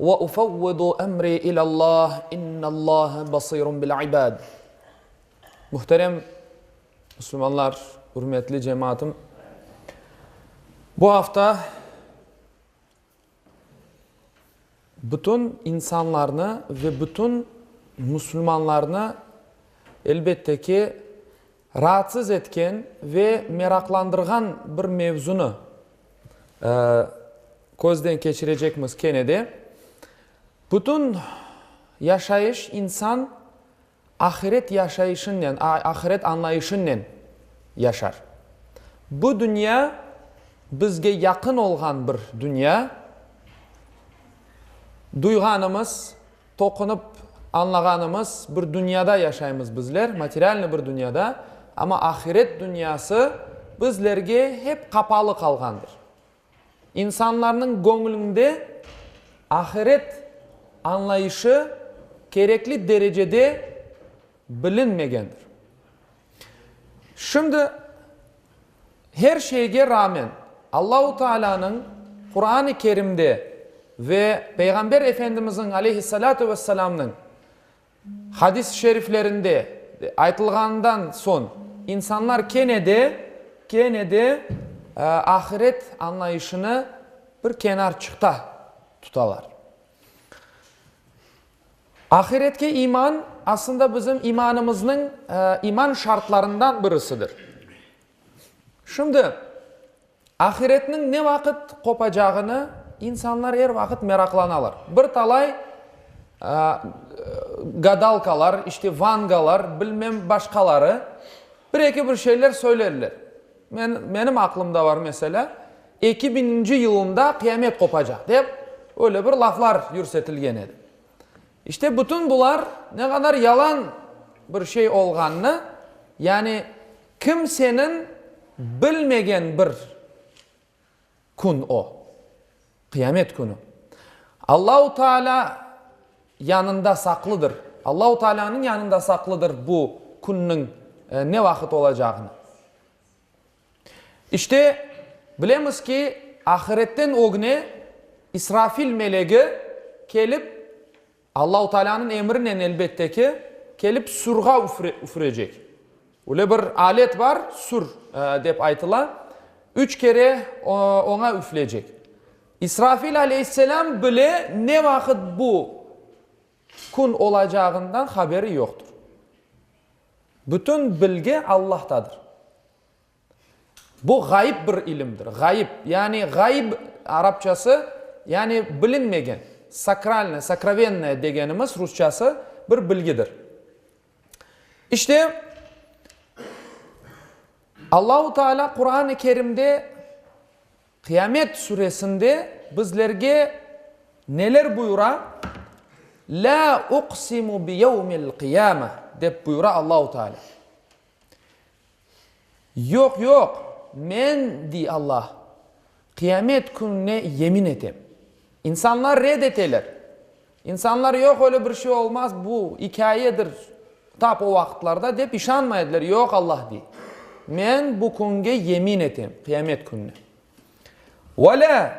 Ve ufevvidu emri ilâllah, innâllâhe basirun bil ibâd. Muhterem müslümanlar, ürmetli cemaatım, bu afta bütün insanlarnı ve bütün müslümanlarnı, elbette ki, Raatsız etken ve meraqlandırğan bir mevzunı közden keçirecekmiz kene de. Bütün yaşayış insan ahiret yaşayışınnen, ahiret añlayışınnen yaşar. Bu dünya bizge yaqın olğan bir dünya. Duyğanımız. Toqunıp añlağanımız, bir dünyada yaşaymız bizler, materialnıy bir dünyada, amma ahiret dünyası bizlerge hep qapalı qalğandır. İnsanlarnıñ göñlünde ahiret añlayışı kerekli derecede bilinmegendir. Şimdi, her şeyge rağmen, Allahu Taalânıñ Quran-ı Kerimde ve Peyğamber Efendimizniñ aleyhissalâtu vesselâmnıñ hadis-i şeriflerinde aytılğanından soñ, insanlar kene de, kene de ahiret añlayışını bir kenar çıqta tutalar. Ahiretke iman, aslında bizim imanımıznıñ iman şartlarından birisidir. Şimdi, ahiretniñ ne vaqıt qopacağını insanlar er vaqıt meraqlanalar. Bir talay gadalkalar, işte vangalar, bilmem başqaları. Bir-eki bir şeyler söylerler. Men, menim aqlımda bar, meselâ, eki biñinci yılında qıyamet qopacaq, dep, öyle bir laflar yürsetilgen edi. İşte, bütün bular ne qadar yalan bir şey olğanını, yani kimseniñ bilmegen bir Kün o, Qıyamet künü. Allahu Taalâ yanında saqlıdır. Allahu Taalânıñ yanında saqlıdır bu künniñ ne vaqıt olacağını. İşte, bilemiz ki, ahiretten ögne İsrafil melegi kelip, Allahu Taalânıñ emrinen, elbette ki, kelip sürğa üfürecek. Öyle bir alet bar, sür, dep aytıla, üç kere oña üfleycek. İsrafil aleyhisselâm bile ne vaqıt bu kün olacağından haberi yoqtır. Bütün bilgi Allahtadır. Bu ğayıp bir ilimdir. Ğayıp, yani ğayb arapçası, yani bilinmegen, sakralnıy, sokrovennoye degenimiz rusçası bir bilgidir. İşte, Allahu Teala Quran-ı Kerimde Qıyamet suresinde bizlerge neler buyura? La uqsimu bi yevmil qiyame, dep buyura Allahu Teala. Yoq, yoq, men, dey Alla, Qıyamet kününe yemin etem. İnsanlar red eteler. İnsanlar, yoq, öyle bir şey olmaz, bu ikâyedir, tap o vaqıtlarda, dep işanmay ediler. Yoq, Alla dey, men bu künge yemin etem, Qıyamet kününe. Ve la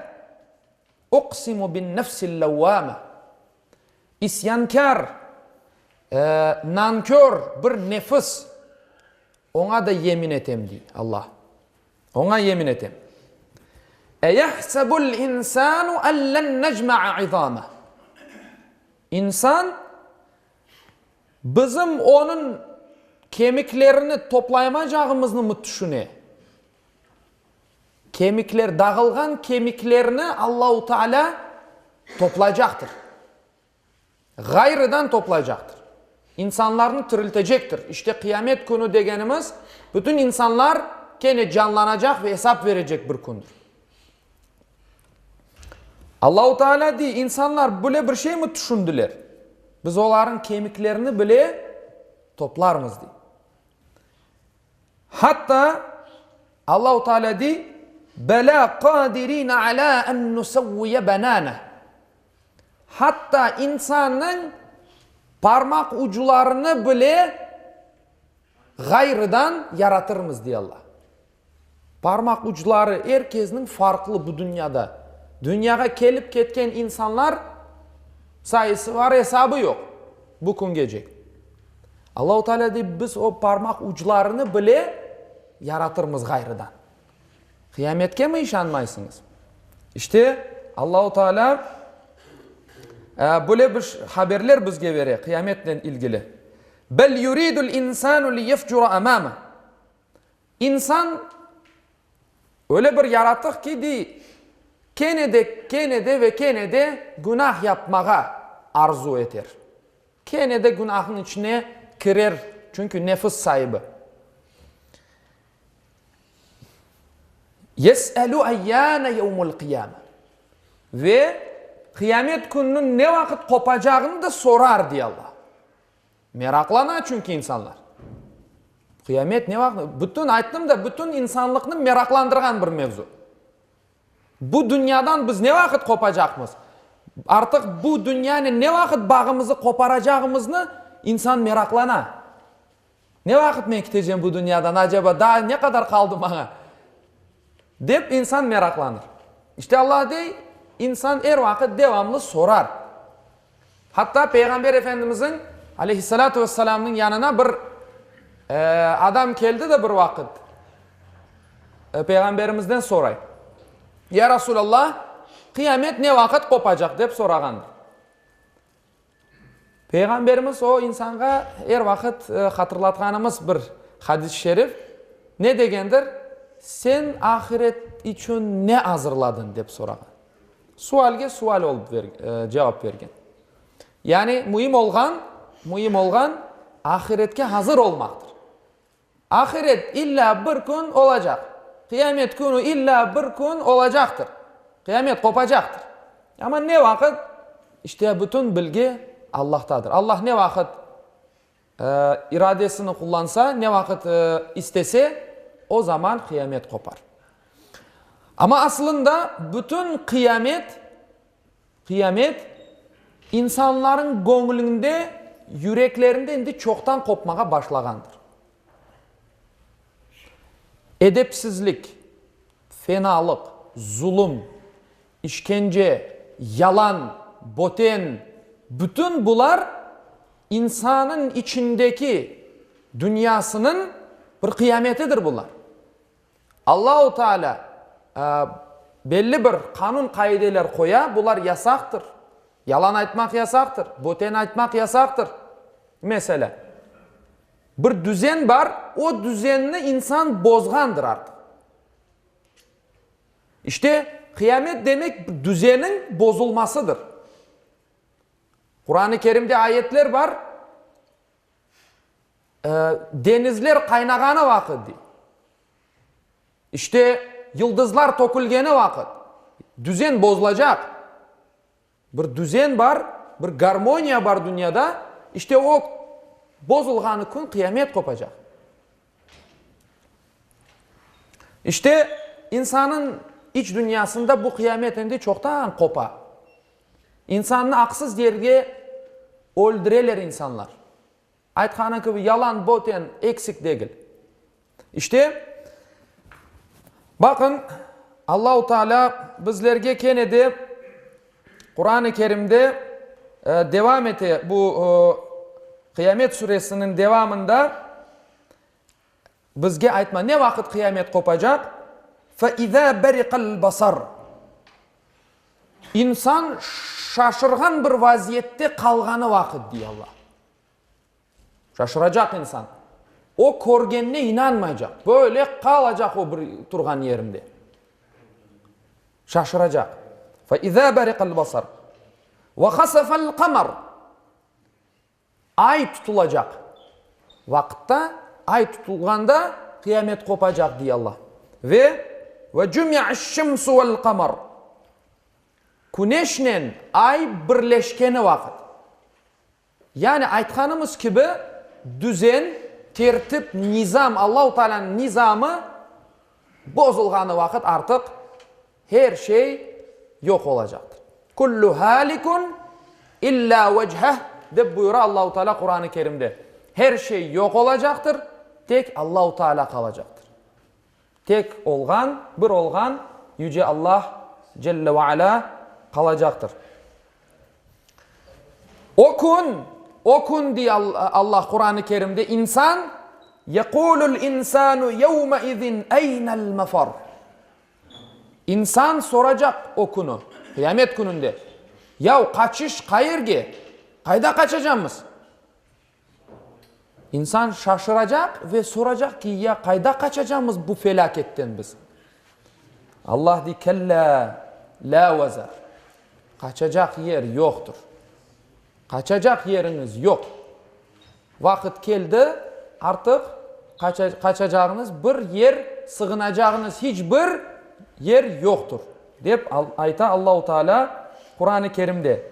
uqsimu bin-nefsil-levvâme, İsyankâr, nankör bir nefis, oña da yemin etem, dey Alla, oña yemin etem. Eyahsebul insanu en len necma'a izameh. İnsan, bizim onıñ kemiklerini toplayamaycağımıznımı tüşüne? Kemikler, dağılğan kemiklerni Allahu Taalâ toplaycaqtır. Ğayrıdan toplaycaqtır. İnsanlarnı tiriltecektir. İşte Qıyamet Künü degenimiz, bütün insanlar kene canlanacaq ve esap verecek bir kündir. Allahu Taalâ dey, insanlar böyle bir şeymi tüşündiler? Biz olarnıñ kemiklerini bile toplarmız, dey. Hatta Allahu Teala dey, Belâ qâdirîne alâ en nusevviye benâne. Hatta insannıñ parmaq ucularını bile ğayrıdan yaratırmız, dey Alla. Parmaq ucuları er kesniñ farqlı bu dünyada. Dünyağa kelip ketken insanlar sayısı var, esabı yoq bu küngecek. Allahu Taalâ dep biz o parmaq uclarını bile yaratırmız ğayrıdan. Qıyametkemi işanmaysıñız? İşte, Allahu Taalâ böyle bir haberler bizge bere qıyametnen ilgili. Bel yuridul insanu liyefcura amama. İnsan öyle bir yaratıq ki, dey, kene de, kene de ve kene de günah yapmağa arzu eter. Kene de günahın içine kirer, çünki nefis saibi. Yes'elü eyyâne yevmul qiyâme. Ve Qıyamet Kününiñ ne vaqıt qopacağını da sorar, dey Allah. Meraqlana çünki insanlar. Qıyamet ne vaqıt? Bütün, ayttım da, bütün insanlıqnı meraqlandırğan bir mevzu. Bu dünyadan biz ne vaqıt qopacaqmız? Artıq bu dünyanen ne vaqıt bağımızı qoparacağımıznı insan meraqlana. Ne vaqıt men kitecem bu dünyadan, aceba daa ne qadar qaldı maña? dep insan meraqlanır. İşte, Alla dey, insan er vaqıt devamlı sorar. Hatta Peyğamber Efendimizniñ, aleyhissalâtu vesselâmnıñ, yanına bir adam keldi de bir vaqıt Peyğamberimizden soray, Ya Rasulallah, qıyamet ne vaqıt qopacaq? dep sorağandır. Peyğamberimiz o insanğa er vaqıt hatırlatqanımız bir hadis-i şerif ne degendir, Sen ahiret içün ne azırladıñ? dep sorağan. Sualge sual olıp cevap bergen. Yani müim olğan, müim olğan ahiretke hazır olmaqtır. Ahiret illa bir kün olacaq. Qıyamet künü illa bir kün olacaqtır. Qıyamet qopacaqtır. Amma ne vaqıt? İşte bütün bilgi Allahtadır. Allah ne vaqıt? iradesini qullansa, ne vaqıt istese, o zaman qıyamet qopar. Amma asılında bütün qıyamet, qıyamet, insanlarnıñ göñlünde, yüreklerinde indi çoqtan qopmağa başlağandır. Edepsizlik, fenalıq, zulum, İşkence, yalan, boten, bütün bular insannıñ içindeki dünyasınıñ bir qıyametidir bular. Allahu Taalâ belli bir qanun qaideler qoya, bular yasaqtır, yalan aytmaq yasaqtır, boten aytmaq yasaqtır. Meselâ, bir düzen bar, o düzenni insan bozğandır artıq. İşte, qıyamet demek düzeniñ bozulmasıdır. Quran-ı Kerimde ayetler bar, Deñizler qaynağanı vaqıt, dey. İşte, yıldızlar tökülgeni vaqıt düzen bozulacaq. Bir düzen bar, bir garmoniya bar dünyada, işte o bozulğanı kün qıyamet qopacaq. İşte insannıñ iç dünyasında bu qıyamet endi çoqtan qopa. İnsannı aqsız yerge öldüreler insanlar. Aytqanı kibi, yalan, boten, eksik degil. İşte, baqıñ, Allahu Taalâ bizlerge kene de Quran-ı Kerimde devam ete, bu Qıyamet Suresiniñ devamında bizge aytma, ne vaqıt qıyamet qopacaq? Fe izâ beriqel basar. İnsan şaşırğan bir vaziyette qalğanı vaqıt, dey Alla. Şaşıracaq insan. O körgenine inanmaycaq. Böyle qalacaq o bir turğan yerinde. Şaşıracaq. Fe izâ beriqel basar. Ve hasefel kamar. Ay tutulacaq. Vaqıtta, ay tutulğanda qıyamet qopacaq, dey Alla. Ve ve cümi'eş şemsu vel kamar. Küneşnen ay birleşkeni vaqıt. Yani aytqanımız kibi, düzen, tertip, nizam, Allahu Taalanıñ nizamı bozulğanı vaqıt artıq her şey yoq olacaqtır. Kullu halikun illa vecheh, dep buyura Allahu Taala Quranı Kerimde. Her şey yoq olacaqtır, tek Allahu Taala qalacaqtır. Tek olğan, bir olğan Yüce Allah Celle ve Ala qalacaqtır. O kün, o kün, dey Allah Quran-ı Kerimde, insan, Yekulul insanu yevmeizin eynel mefar. İnsan soracaq o künü, Qıyamet Kününde, Yav, qaçış qayerge? Qayda qaçacamız? İnsan şaşıracaq ve soracaq ki, ya qayda qaçacamız bu felâketten biz? Allah dey, Kella, la vazar. Qaçacaq yer yoqtır. Qaçacaq yeriñiz yoq. Vaqıt keldi, artıq qaçacağıñız bir yer, sığınacağıñız hiç bir yer yoqtır, dep ayta Allahu Teala Quran-ı Kerimde.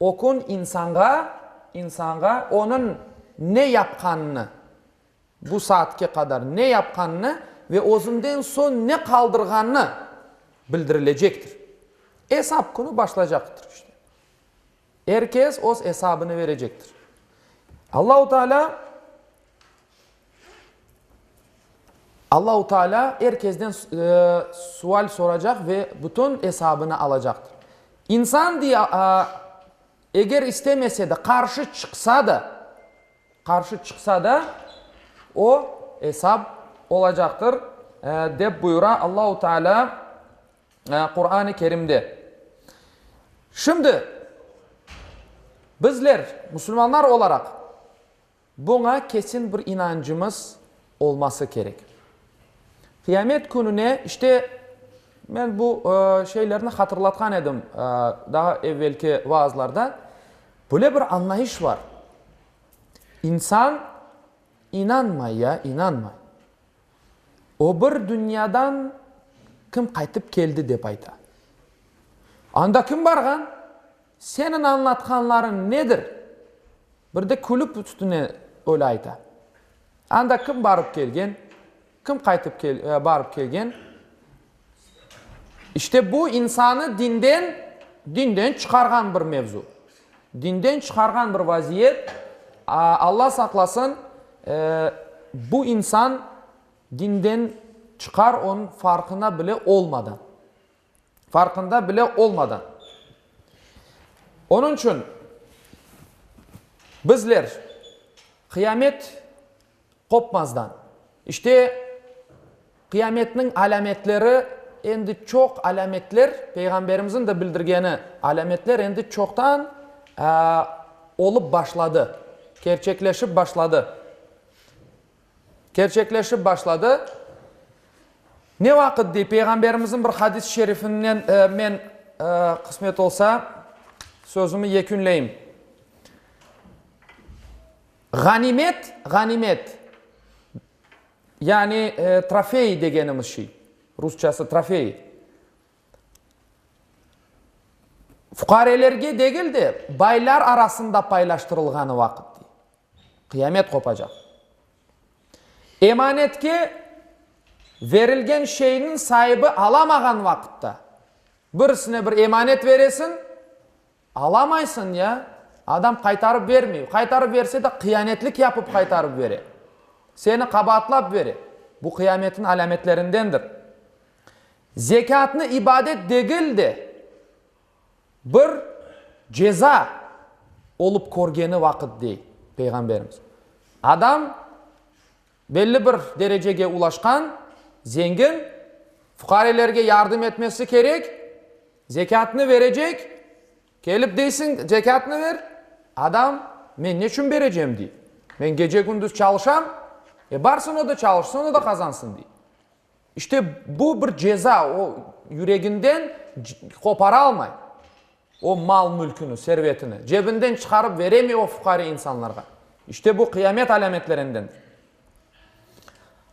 O kün insanğa, insanğa onıñ ne yapqanını, bu saatke qadar ne yapqanını ve özünden soñ ne qaldırğanı bildirilecektir. Esap künü başlaycaqtır işte. Er kes öz esabını berecektir. Allahu Taalâ. Allahu Taalâ er kesden sual soracaq ve bütün esabını alacaqtır. İnsan, dey, eger istemese de, qarşı çıqsa da, qarşı çıqsa da, o, esap olacaqtır, dep buyura Allahu Taalâ Quran-ı Kerimde. Şimdi, bizler, musulmanlar olaraq, Buña kesin bir inancımız olması kerek. Qiyamet kününe, işte, men bu şeylerni hatırlatqan edim daha evvelki vaazlarda, böyle bir añlayış bar, insan inanmay ya inanmay, o bir dünyadan kim qaytıp keldi dep ayta. Anda kim barğan? Seniñ añlatqanlarıñ nedir? Bir de külip üstüne öyle ayta. Anda kim barıp kelgen, kim qaytıp kel, barıp kelgen? İşte bu insanı dinden, dinden çıqarğan bir mevzu. Dinden çıqarğan bir vaziyet. Alla saqlasın, e, bu insan dinden çıqar, onıñ farqına bile olmadan. farqında bile olmadan. Onıñ içün bizler qıyamet qopmazdan, işte, qıyametniñ alâmetleri endi çoq alâmetler, Peyğamberimizniñ de bildirgeni, alâmetler endi çoqtan olıp başladı, kerçekleşip başladı. Kerçekleşip başladı. Ne vaqıt dey, Peyğamberimizniñ bir hadis-i şerifinden men, qısmet olsa, sözümi yekünleyim. Ğanimet, ğanimet, yani trofey degenimiz şey, rusçası trofey, fuqarelerge degil de, baylar arasında paylaştırılğanı vaqıt. Qıyamet qopacaq. Emanetke verilgen şeyniñ saibi alamağan vaqıtta, birisine bir emanet beresiñ, alamaysıñ ya adam qaytarıp bermey, qaytarıp berse de qıyanetlik yapıp qaytarıp bere, seni qabaatlap bere, bu qıyametniñ alâmetlerindendir. Zekâtnı ibadet degil de, Bir ceza olıp körgeni vaqıt, dey Peyğamberimiz, adam belli bir derecege ulaşqan, zengin, fuqarelerge yardım etmesi kerek, zekâtını verecek, kelip deysiñ, zekâtını ver, adam, men neçün berecem, dey, men gece-gündüz çalışam, e, barsın o da çalışsın, o da qazansın, dey. İşte bu bir ceza, o yüreginden qoparalmay o mal-mülküni, servetini, cebinden çıqarıp veremey o fuqari insanlarğa. İşte bu qıyamet alâmetlerendendir.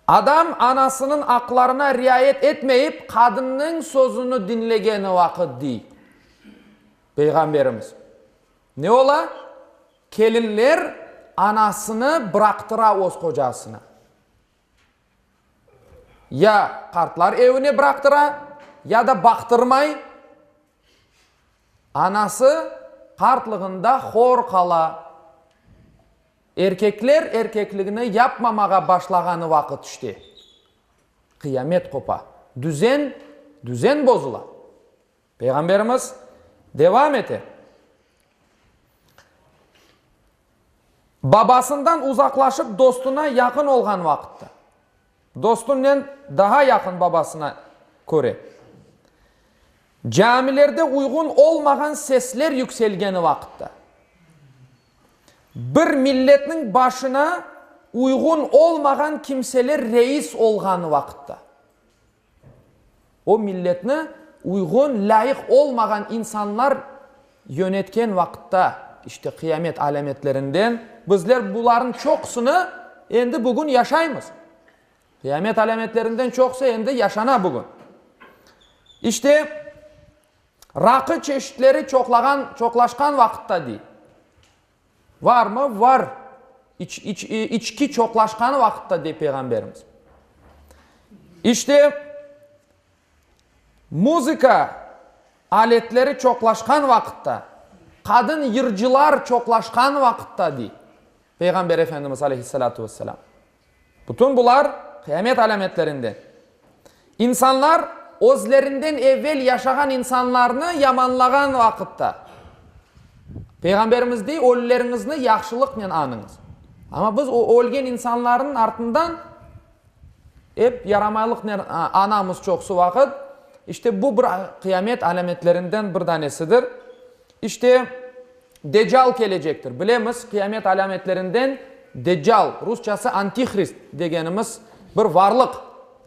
Adam anasınıñ aqlarına riayet etmeyip, qadınnıñ sözüni diñlegeni vaqıt, dey Peyğamberimiz, ne ola? Kelinler anasını bıraqtıra öz qocasına. Ya qartlar evine bıraqtıra, ya da baqtırmay, anası qartlığında hor qala. Erkekler erkekligini yapmamağa başlağanı vaqıt işte, qıyamet qopa, düzen, düzen bozula. Peyğamberimiz devam ete, Babasından uzaqlaşıp dostuna yaqın olğan vaqıtta, dostunnen daha yaqın babasına köre, camilerde uyğun olmağan sesler yükselgeni vaqıtta, bir milletniñ başına uyğun olmağan kimseler reis olğan vaqıtta, O milletni uyğun, lâyıq olmağan insanlar yönetken vaqıtta, işte qıyamet alâmetlerinden, bizler bularnıñ çoqusını endi bugün yaşaymız. Qıyamet alâmetlerinden çoqusı endi yaşana bugün. İşte, raqı çeşitleri çoqlağan, çoqlaşqan vaqıtta, dey. Varmı? Var! İç, iç, içki çoqlaşqan vaqıtta, dey Peyğamberimiz. İşte, muzıka aletleri çoqlaşqan vaqıtta, qadın yırcılar çoqlaşqan vaqıtta, dey Peyğamber Efendimiz aleyhissalâtu vesselâm. Bütün bular, qıyamet alâmetlerinden. İnsanlar özlerinden evel yaşağan insanlarnı yamanlağan vaqıtta, Peyğamberimiz dey, Ölüleriñizni yahşılıqnen añıñız. Amma biz o ölgen insanlarnıñ artından ep yaramaylıqnen añamız çoqusı vaqıt. İşte bu bir qıyamet alâmetlerinden bir danesidir. İşte. Deccal kelecektir. Bilemiz, qıyamet alâmetlerinden Deccal, rusçası Antihrist degenimiz bir varlıq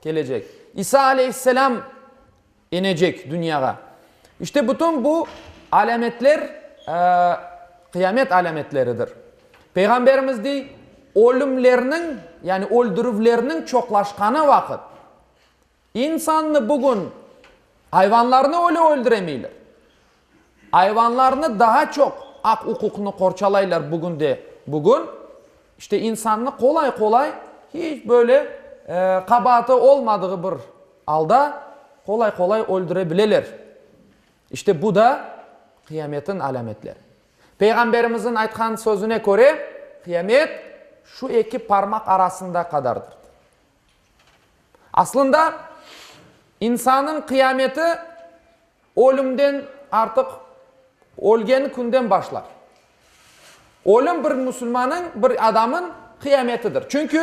kelecek. İsa aleyhisselâm inecek dünyağa. İşte bütün bu alâmetler qıyamet alâmetleridir. Peyğamberimiz dey, Ölümlerniñ, yani öldürüvlerniñ çoqlaşqanı vaqıt, İnsannı bugün ayvanlarnı öyle öldüremeyler. Ayvanlarnı daa çoq aq-uquqnı qorçalaylar bugün de bugün. İşte insannı qolay-qolay hiç böyle qabaatı olmadığı bir alda qolay-qolay öldüre bileler. İşte bu da qıyametniñ alâmetleri. Peyğamberimizniñ aytqan sözüne köre, qıyamet şu eki parmaq arasında qadardır. Aslında, insannıñ qıyameti ölümden, artıq ölgen künden başlar. Ölüm bir musulmannıñ, bir adamın qıyametidir. Çünki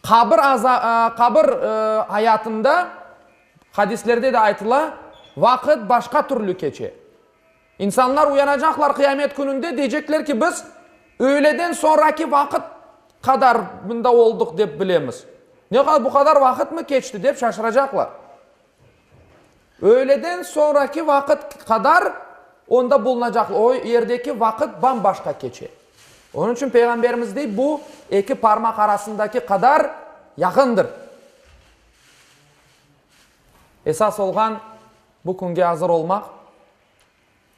qabir qabir ayatında, hadislerde de aytıla, vaqıt başqa türlü keçe. İnsanlar uyanacaqlar Qıyamet Kününde, deycekler ki, biz öğleden soñraki vaqıt qadar mında olduq dep bilemiz. Ne, bu qadar vaqıtmı keçti, dep şaşıracaqlar. Öğleden soñraki vaqıt qadar onda bulunacaqlar. O yerdeki vaqıt bam-başqa keçe. Onıñ içün Peyğamberimiz dey, bu eki parmaq arasındaki qadar yaqındır. Esas olğan, bu künge azır olmaq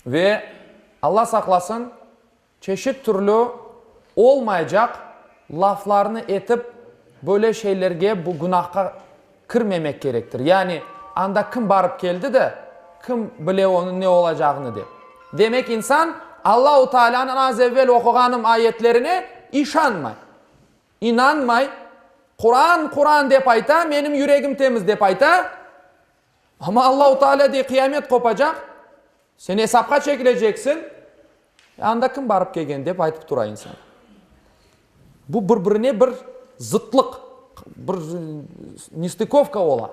ve, Alla saqlasın, çeşit türlü olmaycaq laflarnı etip, böyle şeylerge, bu günahqa kirmemek kerektir. Yani, anda kim barıp keldi de, kim bile onıñ ne olacağını, dep. Demek, insan Allahu Taalânıñ az evvel oquğanım ayetlerine işanmay. İnanmay, Quran, Quran dep ayta, menim yüregim temiz dep ayta, amma Allahu Teala dey qıyamet qopacaq, sen esapqa çekileceksiñ, e, anda kim barıp kelgen dep aytıp tura insan. Bu bir birine bir zıtlıq, bir nestıkovka ola.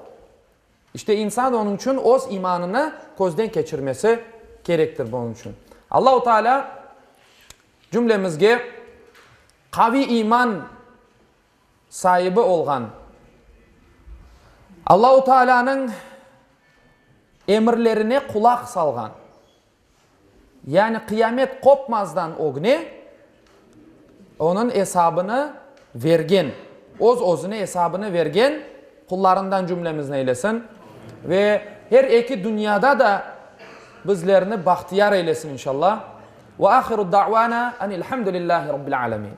İşte insan onıñ içün öz imanını közden keçirmesi kerektir bunıñ içün. Allahu Teala. Cümlemizge qaviy iman saibi olğan, Allahu Taalânıñ emirlerine qulaq salğan, yani qıyamet qopmazdan ögne onıñ esabını vergen, öz-özüne esabını vergen, Qullarından cümlemizni eylesin ve her eki dünyada da bizlerni bahtiyar eylesin inşalla. Ve ahiru da'vana enil hamdülillahi Rabbil alemin.